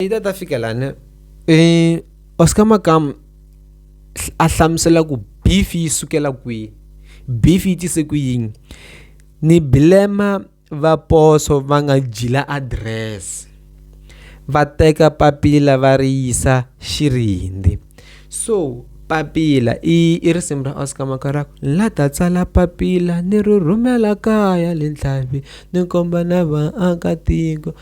Peter ta fika lana eh Oscar Makamu a hlamusela ku beef yi sukela kwihi beef yi tise ku yini ni bilema va poso va nga jila address va teka papila va ri yisa xirindi so papila i i risimu ra Oscar Makarako la ta tsala papila ni ri rhumela kaya le ntlhavi ni komba na vaakatiko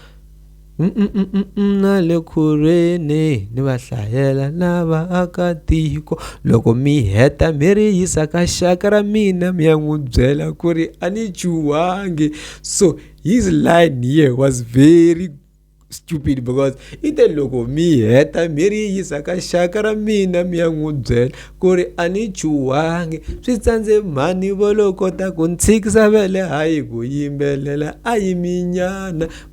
na le khorweni ni va hlayela na vaakatiko loko mi heta mi ri yisa ka xaka ra mina mi ya n'wi byela ku ri a ni chuhangi so his line here was very stupid because i te loko mi heta mi ri yisa ka xaka ra mina mi ya n'wi byela ku ri a ni chuhangi swi tsandze mhani vo lo kota ku ni tshikisa vele hayi ku yimbelela a yiminyana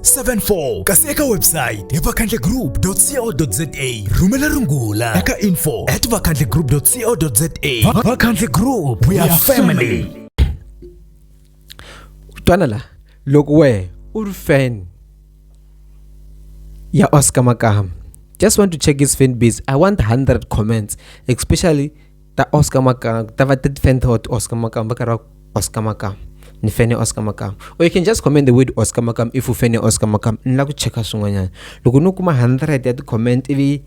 74 kasi eka website hi vakhandlegroup.co.za rhumela rungula eka info at vakhandlegroup.co.za vakhandle group we are family twana la loko we u ri fan ya Oscar Makama just want to check his fan base i want 100 comments especially Ta Oscar Maka, ta va ti fan ta Oscar Maka, va karhi va Oscar Maka. Ni fan ya Oscar Maka. Or you can just comment the word Oscar Maka if u fan ya Oscar Maka. Ni lava ku cheka swin'wanyana. Loko no kuma 100 ya ti-comment ivi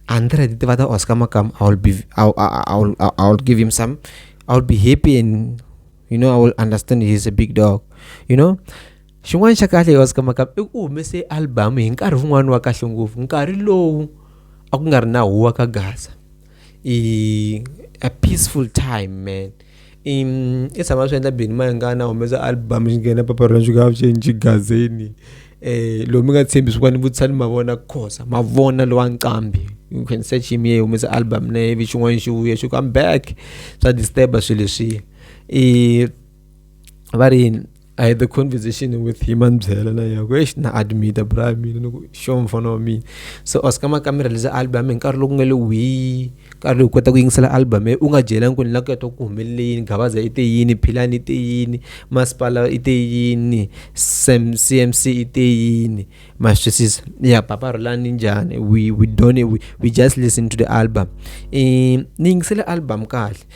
100 ti va ta Oscar Maka, I will be I will, I will, I will give him some I will be happy and you know I will understand he's a big dog. You know? xin'wana xa kahle yo sikamaka i ku humese album hi nkarhi wun'wana wa kahle ngopfu nkarhi lowu a ku nga ri na huwa ka gaza i a peaceful time man i i tshama swi endla bini ma nga na humesa album xi nghena paparhula swi nga swi endli gazini eh lomu nga tshembi swi kwani vutshani mavona khosa mavona lowa nqambi you can search him ye humesa album na ivi xin'wana xi vuya xi ku I'm back swa disturb swilo leswiya i va ri yini I had the conversation with him and byela na yako eish na admita bra mina ni ku sho mfana wa mina so oscar makamera leza album hi nkarhi loku nga le wihi nkarhi lowu kota ku yingisela album u nga byelangi ku ni la ku yatwa ku humelele yini gabaza i te yini philani i te yini masipala i te yini sam cmc i te yini ma swi twisisa ya papa rolani njhani we we don't we, we just listen to the album um ni yingisele album kahle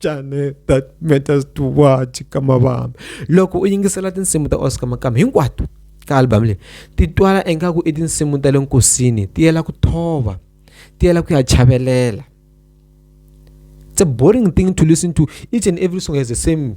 Jane, that matters to what kama vami loko u yingisela tinsimu ta oscar makama hinkwato ka album leyi ti twala ingaku i tinsimu ta le nkosini ti yela ku thova ti yela ku ya chavelela it's a boring thing to listen to each and every song has the same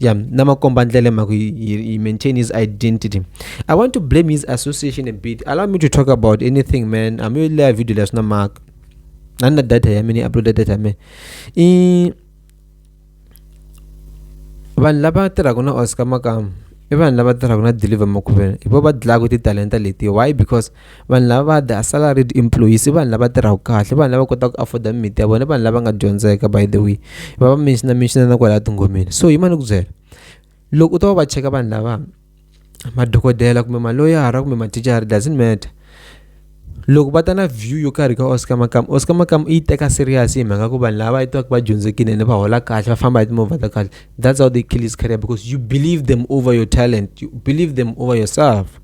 yeah namakombandlele maku he, he maintain his identity i want to blame his association a bit allow me to talk about anything man i'm really a video leswi na mhaka a ni na data ya mina uploada data ya mina i vanhu lava tirhaka na oscar makamu i vanhu lava tirhaka na deliver makuvela hi vo va dlaka titalenta letiyo why because vanhu lava va the salaried employees i vanhu lava tirhaka kahle vanhu lava kotaka ku afford mimiti ya vona vanhu lava nga dyondzeka by the way va va mention mention na kwala tingomeni so yima ni ku byela loko u ta va va cheka vanhu lava madokodela kumbe maloyara kumbe mathicara doesn't matter loko va ta na view yo karhi ka oscar makam oscar makam yi teka serious hi mhaka ku vanhu lava va yitaka va dyondzekile ene va hola kahle va famba hi timovha ta kahle that's how they kill his career because you believe them over your talent you believe them over yourself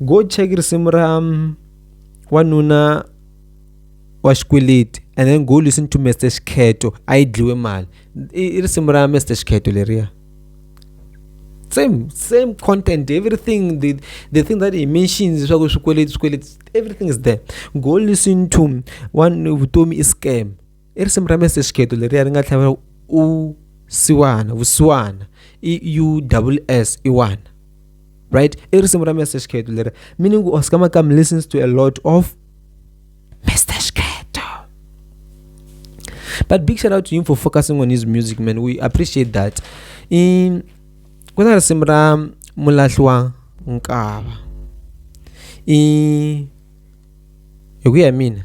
go check risimu ra wanuna wa xikweleti and then go listen to Mister Xikheto a yi dliwe mali i risimu ra Mister Xikheto leriya same same content everything the the thing that he mentions swa ku swikweleti swikweleti everything is there go listen to one vutomi i scam i risimu ra mese xikheto leriya ri nga tlhava u siwana vusiwana i u double s iwana right i risimu ra mese xikheto leri meaning u oscar makam listens to a lot of mr xikheto but big shout out to him for focusing on his music man we appreciate that i ku na risimu ra mulahli wa nkava i hi ku ya mina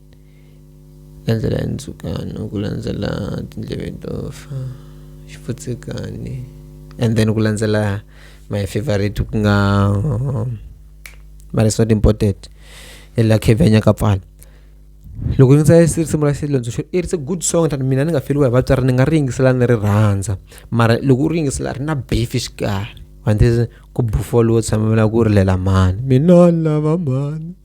Landzela hi ndzhukano ku landzela tindleve to fa xipfutsekani and then ku landzela my favorite ku nga Marisoti Mpotet ya la Khevenha ka pfala loko ni tsale risimu ra Xilondza xo it's a good song than mina ni nga feriwa hi vatswari ni nga ri yingisela ni ri rhandza mara loko u ri yingisela ri na beef exikarhi ku bufuriwa tshamela ku rilela mhani mina ni lava mhani.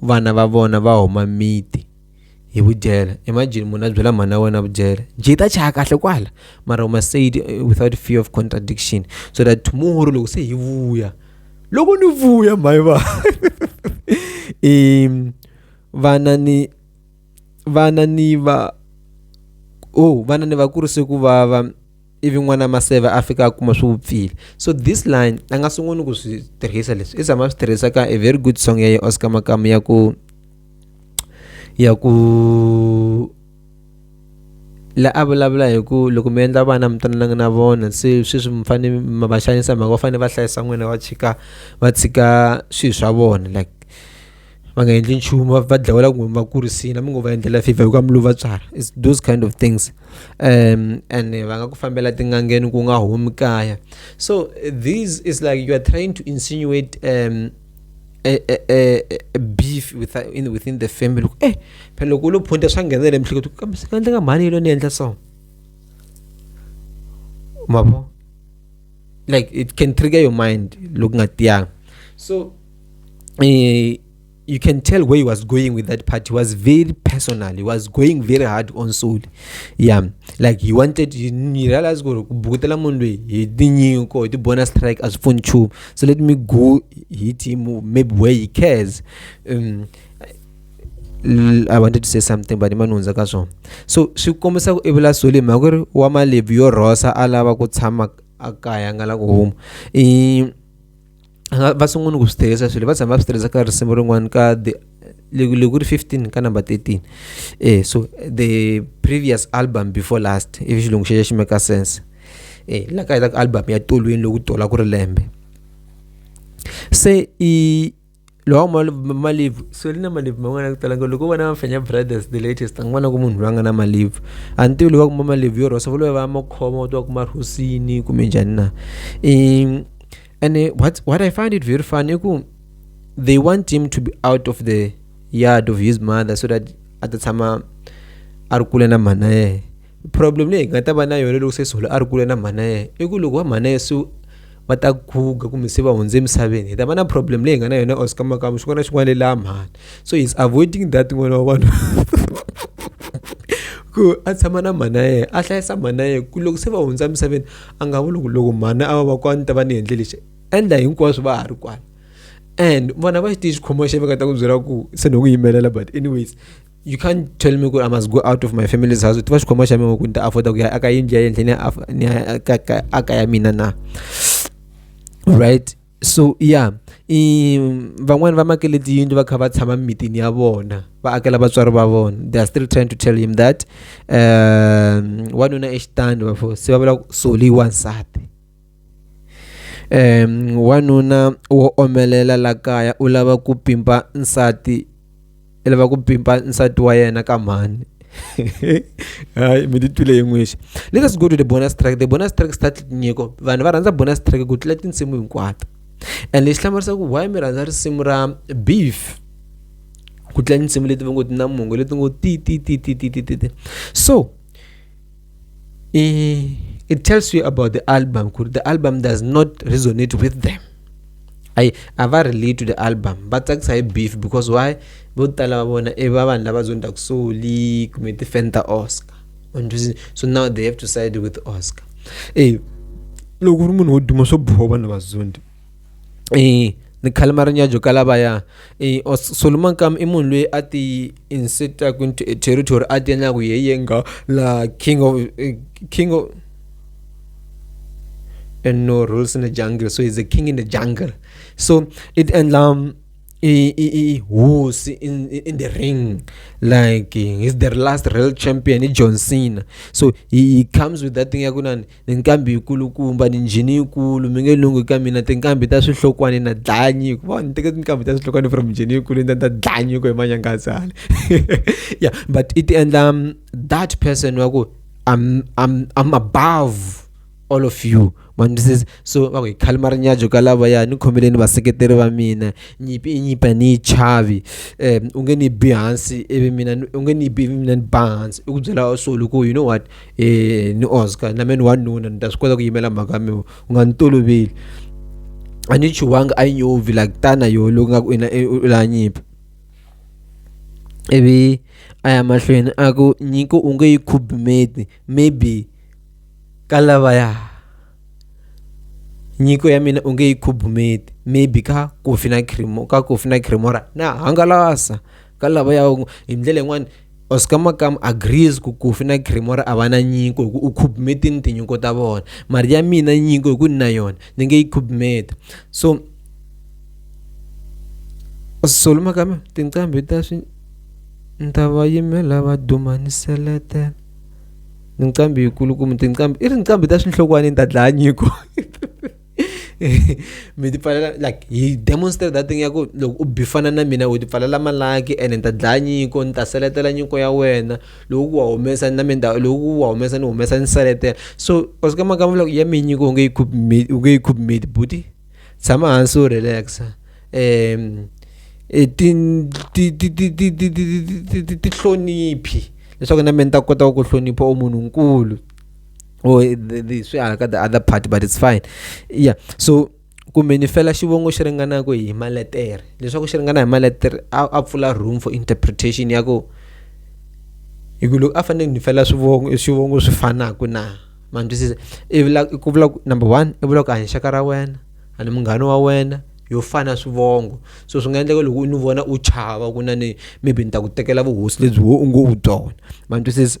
vana va vona va huma miti hi vudyela imagine munhu a byela mhana wena vudyela njhe ta chaya kahle kwala mara uma said eh, without fear of contradiction so that tomorrow loko se hi vuya loko ni vuya mhayi va um vana ni vana ni va oh vana ni va kurise ku vava ivi n'wana maseve a fika a kuma swi vupfile so this line a nga sunguni ku swi tirhisa leswi i zama swi tirhisa ka a very good song ya ye oscar makamu ya ku ya ku la a vulavula hi ku loko mi endla vana mi twanananga na vona se sweswi mi fanele mi va xanisa mhaka va fanele va hlayisa n'wina va tshika va tshika swilo swa vona like va nga endli nchumu va dlawela kumbe mi va kurisile mi ngo va endlela fifa hikuva mi lo va tswala is those kind of things um and va nga ku fambela tin'angeni ku nga humi kaya so these is like you are trying to insinuate um a, a, a, a beef with, in, within the family eh phela loko u lo phunta swa nghenela emihleketo kambe swi nga endleka mhani yilo ni endla so mavo like it can trigger your mind loko nga tiyanga so uh, you can tell where he was going with that part. He was very personal. He was going very hard on soul. Yeah. Like he wanted he realized go bukutela mundu he dinyi ko the bonus strike as phone chu. So let me go hit him maybe where he cares. Um, I wanted to say something but imanunza ka swona so swi kombisa ku i vula sole mhaka ku ri wa malevi yo rhosa a lava ku tshama a kaya nga la ku huma nga va sungula ku swi tirhisa swilo va tshama va swi tirhisa ka risimu rin'wana ka the loko ku ri 15 ka number 13 eh so the previous album before last ivi xilungu xexo xi make sense eh la ka hetaka album ya tolweni loku tola ku ri lembe se i lowa malivu so li na malivu man'wana ku talanga loko vona mafenya brothers the latest an'wana ku munhu loyi a nga na malivu a ni tivi loyi wa kuma malivu yo rhosa va loyi va makhoma u tiva ku marhosini kumbe njhani na i and uh, what what i find it very funny ku they want him to be out of the yard of his mother so that a ta tshama a ri kule na mhana yehe problem leyi hi nga ta va na yona loko se solo a ri kule na mhana yehe i ku loko va mhana yehe se va ta guga kumbe se va hundze emisaveni hi ta va na problem leyi hi nga na yona oscar makamu xin'wana na xin'wana lelaha mhani so he's avoiding that n'wana wa vanhu ku a tshama na mhana yehe a hlayisa mhana yehe ku loko se va hundza emisaveni a nga vuli ku loko mhani a va va kwani ta va ni endle lexi endla hinkwaswo va ha ri kwala and vona va xi tiyi xikhomo xa veka ta ku byela ku se ni ku yimelela but anyways you can't tell me ku i must go out of my family's house ti va xikhoma xa mina ku ni ta afforda ku ya aka yindlu ya yendle ni ya aka ya mina na right so ya i van'wani va makele tiyindlu va kha va tshama mimitini ya vona va akela vatswari va vona they are still trying to tell him that um wanuna exitandi vafo se va vula soli wansati um wanuna wo omelela la kaya u lava ku pimpa nsati i lava ku pimpa nsati wa yena ka mhani hayi mi titwile hi n'wixi let us go to the bonus track the bonus track start nyiko vanhu va rhandza bonus track ku tlula tinsimu hinkwato and lexi hlamarisa ku why mi rhandza risimu ra beef ku tlula tinsimu leti va ngo ti na mongo leti ngo ti ti ti ti ti ti ti so Eh, it tells you about the album. The album does not resonate with them. I have a relate to the album but that's a beef because why vo tala va vona i va vanhu lava zonda ku soli kumbe ti-fan ta oscar so now they have to side with oscar e loko u ri munhu wo duma swo boha vanhu vazondi ni khalima ri nyadzo ka lavaya Solomon kam i munhu loyi a ti insetaku into a territory a ti endlaku ye ye nga la king of king of and no rules in the jungle so he's a king in the jungle so it endla i i i hosi in, in the ring like he's the last real champion i John Cena so he, he comes with that thing yaku nani Tinkambi yikulukumba ni njhini yikulu mi nge lunghi ka mina tinkambi ta swihlokwane na dlaya nyiko va ni teke tinkambi ta swihlokwane from njhini yikulu ni ta dlaya nyiko hi manyangatsale yeah but it endla um, that person wa ku I'm, I'm, I'm above all of you mandisisi so va ku hi khalima rinyajo ka lavaya ni khomeleni vaseketeri va mina nyipi i nyipa ni yi chavi um u nge ni bi hansi ivi mina u nge ni bi ivi mina ni ba hansi i ku byela solo ku you know what e ni oscar na meni wanuna ni ta swi kota ku yimela mhaka mi u nga ni toloveli a ni chuwanga a yi nyuvi like tana yo loko nga ku ina e, u la nyimpi ivi a ya mahlweni a ku nyiko u nge yi khubumeti maybe ka lavaya nyiko ya mina u nge yi khubumeti maybe ka kofi na cremo ka kofi na cremora na hangalasa ka lava ya hi ndlela yin'wani Oscar Makam agrees ku Kofi na Cremora a va na nyiko hi ku u khubmetini tinyiko ta vona mari ya mina nyiko hi ku ni na yona ni nge yi khubmeta so Solo Makam tinqambi ta swi ni ta va yimela va duma ni seletela tinqambi yikulukumba tinqambi i ri nqambi ta swinhlokwana ni ta dlaya nyiko mi ti pfalela like hi demonstrate that thing ya ku loko u bifana na mina u ti pfalela malaki ene ni ta dlaya nyiko ni ta seletela nyiko ya wena loko ku wa humesa na mina loko ku wa humesa ni humesa ni seletela so u sika maka loko ya mi nyiko u nge yi khuphi u nge yi khuphi mate buti tshama hansi u relaxa um tihloniphi leswaku na mina ni ta kota ku hlonipha u munhu nkulu or the, the, swi hala ka the other part but it's fine yeah so kumbe ni fela xivongo xi ringanaka hi maletere leswaku xi ringana hi maletere a pfula room for interpretation ya ku hi ku loko a fanele ni fela swivongo swivongo swi fanaka na ma ni twisisa i vula ku vula ku number one i vula ku a hi xaka ra wena a ni munghana wa wena yo fana swivongo so swi nga endleka loko u ni vona u chava ku na ni maybe ni ta ku tekela vuhosi lebyi wo u ngo u byona ma ni twisisa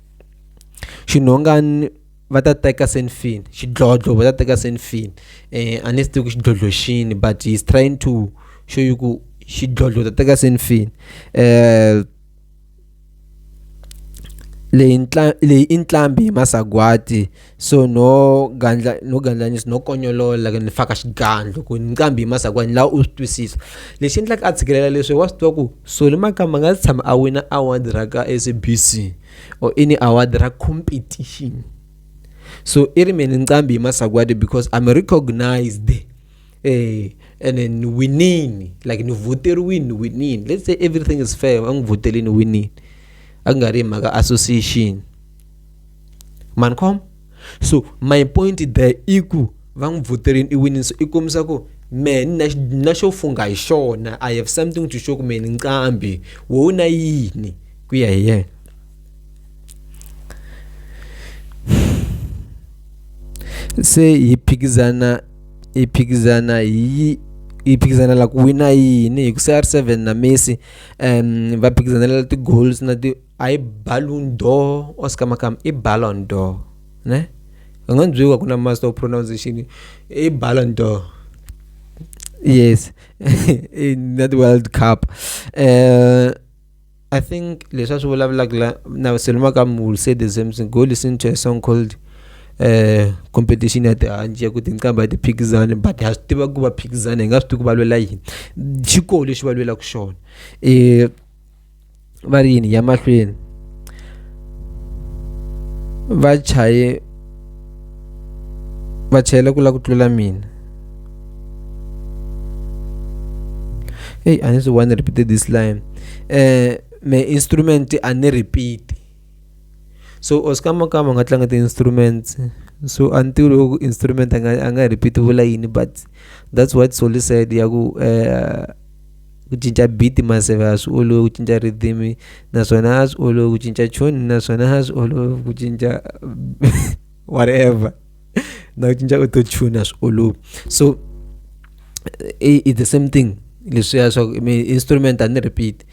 xinhongani va ta teka senfini xidlodlo va ta teka senfini eh, a ni swi tivi ku xidlodlo xini but he's trying to show you ku xidlodlo ta teka senfini eh leyi leyi i ntlhambi hi masagwati so no gandla no gandlanyisa no konyolola ni faka xigandlo ku nqambi hi masakwani laha u swi twisisa lexi endlaka a tshikelela leswi wa swi tiva ku soli makamba nga si tshama a wina award ra ka s b c or ini award ra competition so i ri mina nqambi hi masakwadi because i'm recognized eh and then ni winini like ni voteriwini ni winini let's say everything is fair a n'wi votelini winini a ku nga ri hi mhaka association mani khoma so my point there i ku va n'wi voterini i winini so i kombisa ku me na na xo fungha hi xona i have something to show kumbe ni nqambi wo u na yini ku ya hi yena se hi phikizana hi phikizana hi yi phikizanela ku wina yini hi ku CR7 na Messi um va phikizanela ti-goals na ti a hi balloon door oscar makam i ballon door ne u nga byeriwa ku na master of pronunciation i ballon door yes in that world cup uh, i think leswi a swi vulavulaka la na selo makam will say the same thing go listen to a song called eh competition ya tihanci ya ku tinqambha ti phikizana but ha swi tiva ku va phikizana hi nga swi tivi ku va lwela yini xikolo lexi va lwelaka xona um va ri yini ya mahlweni va chaye va chayela ku la ku tlula mina eyi a ni swi one repeated this line um me instrument a ni repeat so or swi kama kama u nga tlanga ti-instruments so a ni tivi loko instrument a nga a nga repeat vula yini but that's what Solly said ya ku eh, ku cinca beat maseve a swi olovi ku cinca rhythm naswona a swi olovi ku cinca tune naswona a swi olovi ku cinca whatever na ku cinca autotune a swi olovi so eh, it's the same thing leswiya swa instrument a ni repeat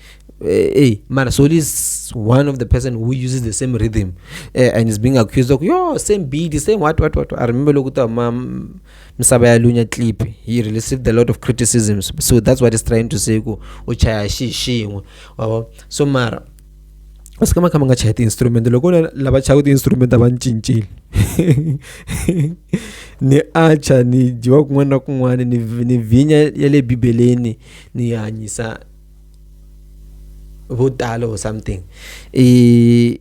hey eh, mara soli is one of the person who uses the same rhythm uh, and is being accused of yo same beat same what what what i remember loku ta ma misava ya lunya clip he received a lot of criticisms so that's what is trying to say ku u chaya xi xin'we so mara u swi kama kha mi nga chaya ti-instrument loko na lava chayaka ti-instrument a va ni cincile ni acha ni dyiwa kun'wana na kun'wana ni ni vhinya ya le bibeleni ni hanyisa vo tala or something i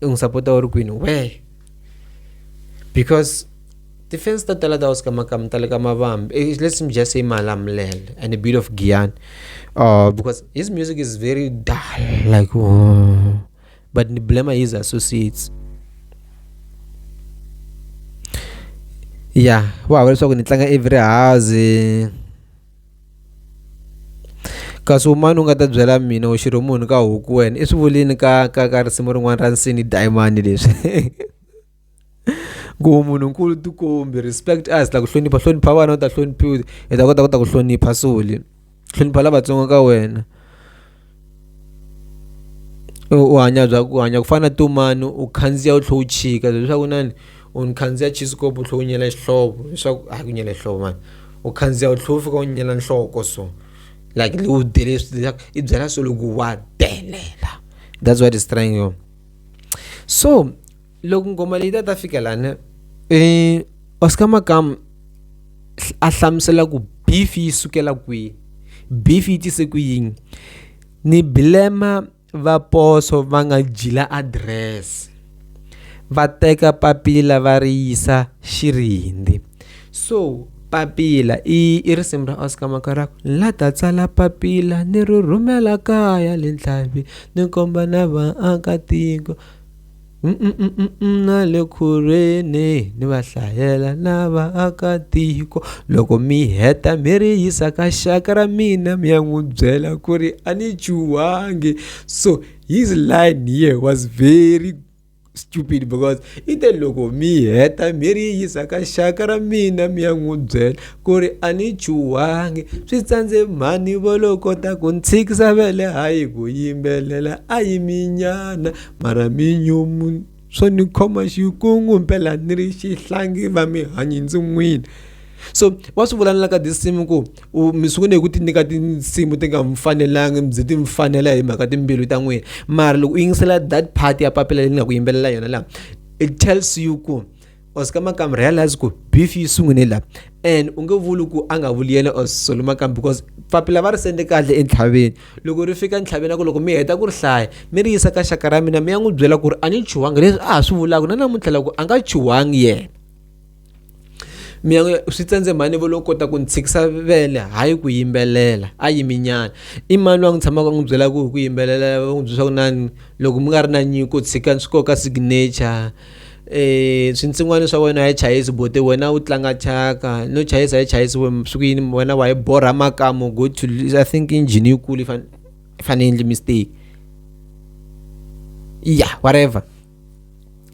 i n'wi sapota u ri kwini wee because tifense ta tala ta oskamakamu ta le ka mavambi eh, let's just say malamulele and a bit of giyani uh, because his music is very dull like oh. but ni blema his associates ya wa hava leswaku ni tlanga every house kasi wun'wana u nga ta byela mina u xirho munhu ka huku wena i swi vulini ka ka ka risimu rin'wana ra nsini dayimani leswi ku munhu nkulu tikombi respect us la ku hlonipha hlonipha vana u ta hloniphiwa hi ta kota ku ta ku hlonipha soli hlonipha lavatsongo ka wena u hanya bya ku hanya ku fana na to mani u khandziya u tlhela u chika leswaku inana u ni khandziya chisikopo u tlhela u nyela xihlovo leswaku a ku nyela xihlovo mani u khandziya u tlhela u fika u nyela nhloko so like u dele leswaku i byela so loko wa delela that's what is trying yo so loko ngoma leyi ta ta fika lani um oscar makamu a hlamusela ku beef yi sukela kwihi beef yi tise ku yini ni bilema va poso va nga jila adirese va teka papila va ri yisa xirindi so papila i i risimu ra oscar makarako la ta tsala papila ni ri rhumela kaya le ntlhavi ni komba na vaakatiko na le khorweni ni va hlayela na vaakatiko loko mi heta mi ri yisa ka xaka ra mina mi ya n'wi byela ku ri a ni chuhangi so his line here was very stupid because i te loko mi heta mi ri yisa ka xaka ra mina mi ya n'wi byela ku ri a ni chuhangi swi tsandze mhani vo lo kota ku ni tshikisa vele hayi ku yimbelela a yiminyana Marhaminyumu swo ni khoma xikungu mpela ni ri xihlangi va mi hanyi ndzi n'wini so wa swi vula na la ka tinsimu ku u mi sungule hi ku ti nyika tinsimu ti nga mi fanelanga mi byi ti mi fanela hi mhaka timbilu ta n'wina mara loko u yingisela that part ya papila leyi ni nga ku yimbelela yona laha it tells you ku or swi ka makamba realize ku beef yi sungune la and u nge vuli ku a nga vuli yena or solo makamba because papila va ri sende kahle entlhaveni loko ri fika entlhaveni a ku loko mi heta ku ri hlaya mi ri yisa ka xaka ra mina mi ya n'wi byela ku ri a ni chuhangi leswi a ha swi vulaka na namuntlha loko a nga chuhangi yena mi ya swi tsandze mhani vo lo kota ku ni tshikisa vele hayi ku yimbelela a yiminyana i mani wa n'wi tshamaka n'wi byela ku hi ku yimbelela va n'wi byela swa ku nani loko mi nga ri na nyiko tshikani swi koka signature eh swinsin'wana swa wena hi chayisi buti wena u tlanga thyaka no chayisa hi chayisi swi ku yini wena wa hi borha makamu go to i think engine yi kulu fane fane endli mistake yeah whatever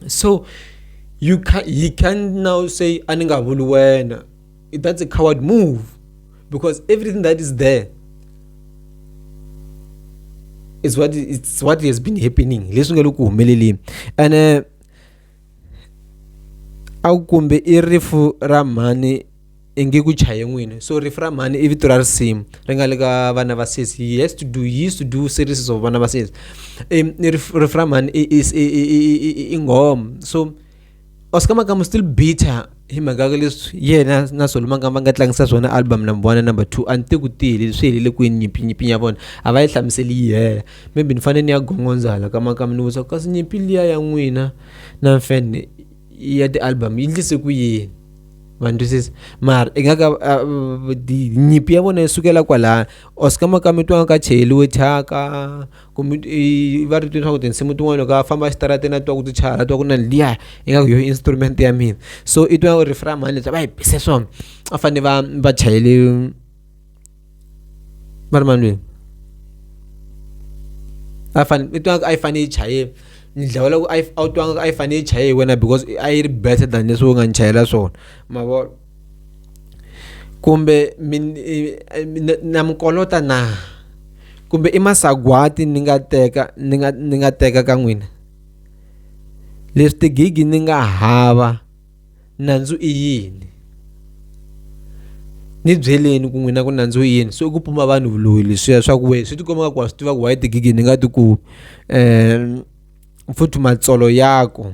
so you can he can now say a ni nga vuli wena that's a coward move because everything that is there is what it's what has been happening leswi nga le ku humeleleni and uh, a ku kumbe i rifu ra mhani i nge ku chaye n'wini so rifu ra mhani i vito ra risimu ri nga le ka vana va sesi he has to do he used to do series of vana va sesi rifu ra mhani i nghoma so or ska maka mu still bitter hi mhaka ka leswi yena na solomanga va nga tlangisa swona album number one number two a ni te ku tiyile swi helele kwini nyimpi nyimpi ya vona a va yi hlamuseli yi hela maybe ni fanele ni ya gongondza hala ka makama ni vutisa kasi nyimpi liya ya n'wina na mfan ya ti-album yi ndlise ku yini ma twisisa mara i nga ka nyimpi ya vona yi sukela kwalaya or ska makama twa nga ka cheliwe thyaka kumbe i va ri twi swa ku tinsimu tin'wani loko a famba exitarateni a twa ku ti chaya a twa ku na liya ingaku yoho instrument ya mina so i twa riff ra mhani leswi a va hi bise swona a fane va va chayele va ri mani lweyi a fane i twa a yi fane yi chaye ni dlawa loko a yi a wu twa nga ku a yi fane yi chaye hi wena because a yi ri better than leswi u nga ni chayela swona ma vo. kumbe mi na mi kolota na kumbe i masagwati ni nga teka ni nga ni nga teka ka n'wina leswi tigigi ni nga hava nandzu i yini ni byeleni ku n'wina ku nandzu i yini so i ku pumba vanhu vuloyi leswiya swa ku wena swi tikomba nga ku wa swi tiva ku why tigigi ni nga ti ku futhi matsolo ya ku.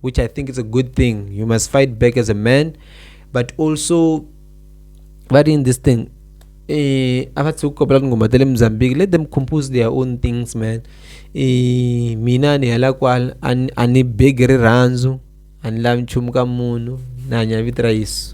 which I think is a good thing. You must fight back as a man, but also, but in this thing, eh, abathi ukukopela kungoma tele mzambiki let them compose their own things man eh, mina ni hala kwala ani begi rirhandzu ani lavi nchumu ka munhu na hanya vito ra yesu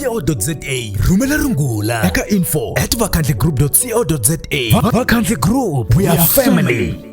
co.za rhumela rungula eka info at vakhandligroup co.za vakhandli group we are family